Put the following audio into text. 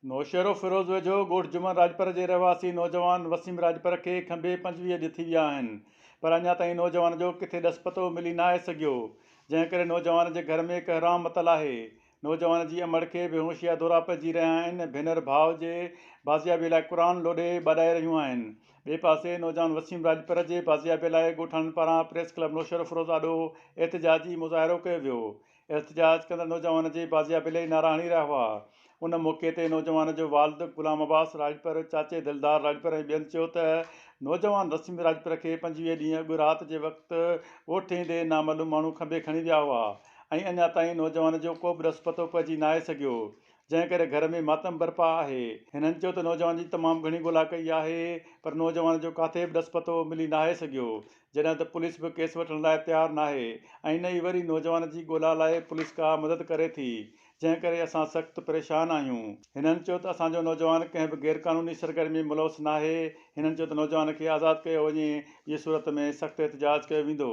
نوشهروفيروز ويجهو ڳوٺ جمن راڄپر جي رهواسي نوجوان وسيم راڄپر کي کنڀي پنجويهه اڄ ٿي ويا آهن پر اڃا تائين نوجوان جو ڪٿي ڏس پتو ملي ناهي سگهيو جنهن ڪري نوجوان جي گهر ۾ هڪ حرام متل آهي نوجوان جي امڙ کي بيهوشي جا دورا پئجي رهيا آهن ڀينر ڀاء جي بازيابي لاء قرآن لوڏي ٻاڏائي رهيون آهن ٻئي پاسي نوجوان وسيم راڄپر جي بازيابي لاء ڳوٺاڻن پاران پريس ڪلب نوشهروفيروز آڏو احتجاجي مظاهرو ڪيو ويو احتجاج ڪندڙ نوجوان جي بازيابي لئي نعرا هڻي رهيا هئا. ان موقعي تي نوجوان جو والد غلام عباس راڄپر، چاچي دلدار راڄپر ۽ ٻين چيو ته نوجوان رسيم راڄپر کي پنجويهه ڏينهن اڳ رات جي وقت ڳوٺ ايندي نامعلوم ماڻهو کنڀي کڻي ويا هئا ۽ اڃا تائين نوجوان جو ڪو به ڏس پتو پئجي ناهي سگهيو، جنهن ڪري گهر ۾ ماتم برپا آهي. هنن چيو ته نوجوان جي تمام گهڻي ڳولا ڪئي آهي پر نوجوان جو ڪاٿي به ڏس پتو ملي ناهي سگهيو، جڏهن ته پوليس به ڪيس وٺڻ لاء تيار ناهي ۽ نه ئي وري نوجوان جي ڳولا لاء پوليس ڪا مدد ڪري ٿي جنهن ڪري اسان سخت پريشان آهيون. هنن چيو ته اسان جو نوجوان ڪنهن به غير قانوني سرگرمي ۾ ملوث ناهي. هنن چيو ته نوجوان کي آزاد ڪيو وڃي جي صورت ۾ سخت احتجاج ڪيو ويندو.